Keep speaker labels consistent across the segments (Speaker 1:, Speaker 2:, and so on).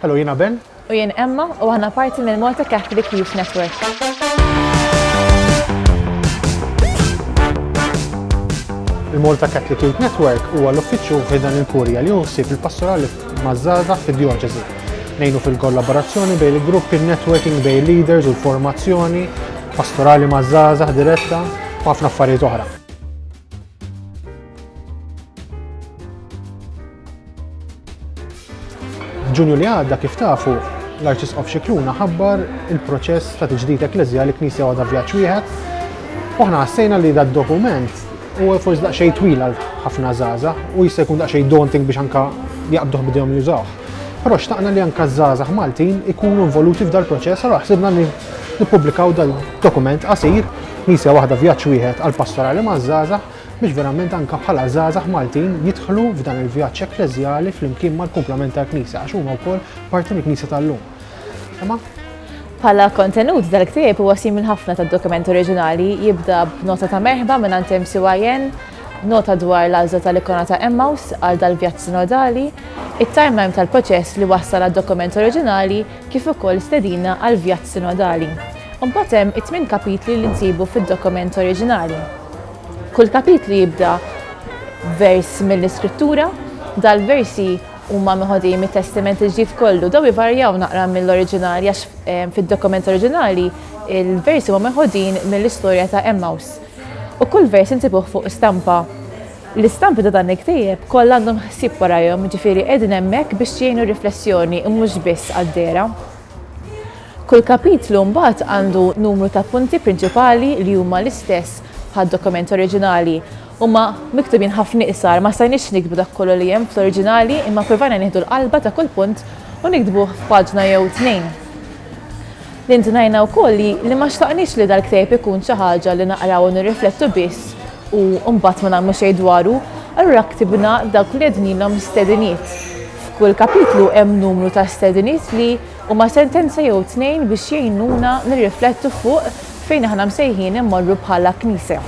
Speaker 1: Hello, jiena Ben. U jien Emma u
Speaker 2: aħna parti mill-Malta Catholic Youth Network.
Speaker 1: Il-Malta Catholic Youth Network huwa l-uffiċċju ħidan il-Kurja li juħsib il-pastorali mażżaża fid-djoċesi. Nejnu fil-kollaborazzjoni bejn il-grupp il-networking bejn leaders u l-formazzjoni, pastorali mażżaża diretta u ħafna affarijiet oħra. Ġunju li għadda kif tafu l-Arċisqof Xikluna ħabbar il-proċess ta' tiġdid ekklezjali knisja għadha vjaġġ wieħed. Oħna ħassejna li dad dokument u forsi daqsxejn twil għal ħafna żaża u jista' jkun daqsxejn daunting biex anka jaqbduh bidejhom jużawh. Però xtaqna li anka żgħażagħ Maltin ikunu involuti f'dal proċess għal ħsibna li Nippubblikaw dal-dokument qasir Misja waħda vjaġġ wieħed għal pastorali maż-żgħażagħ biex verament anke bħala żgħażagħ Maltin jidħlu f'dan il-vjaġġ ekkleżjali flimkien mal-kumplament tal-Knisja għax huma wkoll parti mill-Knisja tal-lum. Imma Pala
Speaker 2: kontenut dal-ktieb huwa simil ħafna tad-dokument oriġinali jibda b'nota ta' merħba minn għand MCYN, nota dwar l-għażla tal-ikona ta' Emmaus għal dal-vjaġġ sinodali, it-timeline tal-proċess li wassal għad-dokument oriġinali kif ukoll stedina għal vjaġġ sinodali. U mbagħad hemm it-tmien kapitli li nsibu fid-dokument oriġinali. Kull kapitlu jibda vers mill-Iskrittura, dal-versi huma meħodi mit-Testiment il-Ġdid kollu, daw ivarjaw naqra mill-oriġinali għax eh, fid-dokument oriġinali il-versi huma meħodin mill-istorja ta' Emmaus. U kull vers intibuh fuq stampa L-istampi ta' dan il-ktieb kollha għandhom ħsieb warajhom, jiġifieri qegħdin hemmhekk biex jgħinu r-riflessjoni u mhux biss għad-dehra. Kull kapitlu mbagħad għandu numru ta' punti prinċipali li huma l-istess bħad-dokument oriġinali. Huma miktubin ħafna iqsar, ma stajniex niktbu dak kollu li hemm fl-oriġinali imma ppruvajna nieħdu l-qalba ta' kull punt u niktbuh f'paġna jew tnejn. Indunajna wkoll li li ma xtaqniex li dal-ktieb ikun xi ħaġa li naqraw u nirriflettu biss u mbagħad ma nagħmlu xejn dwaru, allura ktibna dawk li għednilhom stediniet. F'kull kapitlu hemm numru ta' stediniet li huma sentenza jew tnejn biex jgħinuna nirriflettu fuq fejn aħna msejħin immorru bħala Knisja.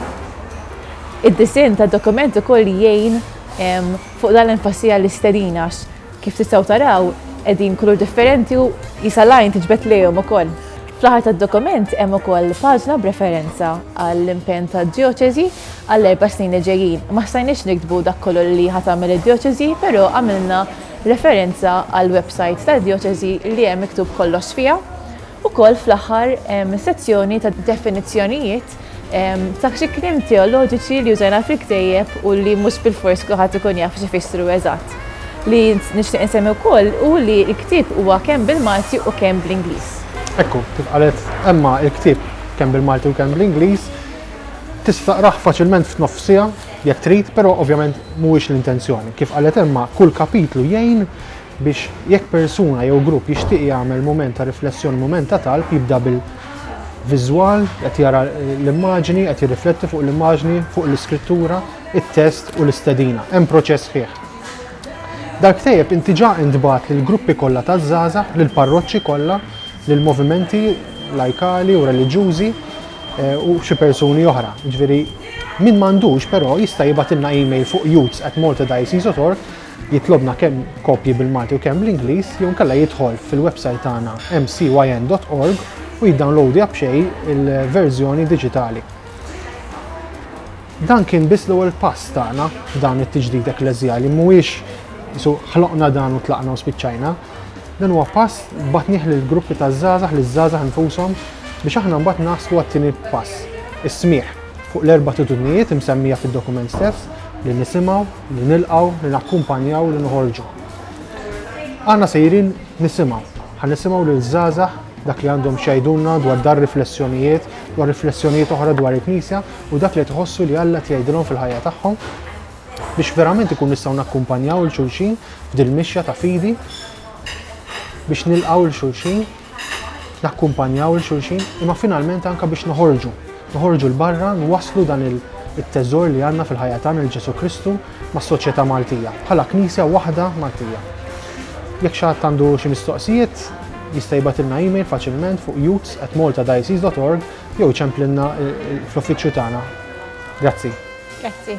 Speaker 2: Id-disinn tad-dokument ukoll jgħin fuq dan l-enfasi għall-istedina għax Kif tistgħu taraw, qegħdin kulur differenti u jisa' l-għajn tiġbed lejhom ukoll. Fl-aħħar tad-dokument hemm ukoll paġna b'referenza għall-impenn tad-djoċesi għall-erba' snin li ġejjin. Ma stajniex niktbu dak kollu li ħa tagħmel id-djoċesi, però għamilna referenza għall-websajt tad-djoċesi li hemm miktub kollox fiha. Ukoll fl-aħħar hemm sezzjoni ta' definizzjonijiet Dak xi kliem teoloġiċi li użajna fil-ktejjeb u li mhux bil-fors kulħadd ikun jaf x'ifissru eżatt. Li nixtieq insemmi wkoll u li l-ktieb huwa kemm bil-Malti u kemm bl-Ingliż. Ekku, kif
Speaker 1: qalet Emma, il-ktieb kemm bil-Malti u kemm bl-Ingliż, tista' taqrah faċilment f'nofs siegħa jekk trid, però ovvjament mhuwiex l-intenzjoni. Kif qalet Emma, kull kapitlu jgħin biex jekk persuna jew grupp jixtieq jagħmel mument ta' riflessjoni, mument ta' talb, jibda bil-viżwal, qed jara l-immaġni, qed jirrifletti fuq l-immaġni, fuq l-iskrittura, it-test u l-istedina. Hemm proċess sħiħ. Dal-ktejjeb inti ġa intbagħat lill-gruppi kollha taż-żgħażagħ, lill-parroċċi kollha, lill-movimenti lajkali u reliġjużi eh, u xi persuni oħra. Ġifieri, min m'għandux però jista' jibgħatilna email fuq youths at maltadiocese.org jitlobna kemm kopji bil-Malti u kemm bl-Ingliż jew inkella jidħol fil-website tagħna mcyn.org u jiddownloadja b'xejn il-verżjoni diġitali. Dan kien biss l-ewwel pass tagħna f'dan it-tiġdid ekklesjali mhuwiex isu ħloqna dan u tlaqna u spiċċajna. Dan huwa pass batnieh lil gruppi ta' żgħażagħ li żgħażagħ infushom biex aħna mbagħad naslu għat-tieni pass, is-smieħ fuq l-erba' titudnijiet imsemmija fid-dokument stess li nisimgħu, li nilqgħu, li nakkumpanjaw, li noħorġu. Aħna sejrin nisimgħu, ħan nisimgħu lil żgħażagħ dak li għandhom xajdunna dwar dar riflessjonijiet, dwar riflessjonijiet oħra dwar il-Knisja u dak li tħossu li Alla tgħidilhom fil-ħajja tagħhom biex verament ikun nistgħu nakkumpanjaw il-xulxin f'dil mixja ta' fidi biex nilqgħu il-xulxin nakkumpanjaw il xulxin, imma finalment anka biex noħorġu, noħorġu l-barra, nwasslu dan il- it-teżor li għandna fil-ħajja tagħna lil Ġesù Kristu mas-soċjetà Maltija, bħala Knisja waħda Maltija. Jekk xi ħadd għandu xi mistoqsijiet, jista' jibgħatilna email faċilment fuq youths@maltadiocese.org jew iċemplilna eh, eh,
Speaker 2: fl-uffiċċju
Speaker 1: tagħna. Grazzi. Grazzi.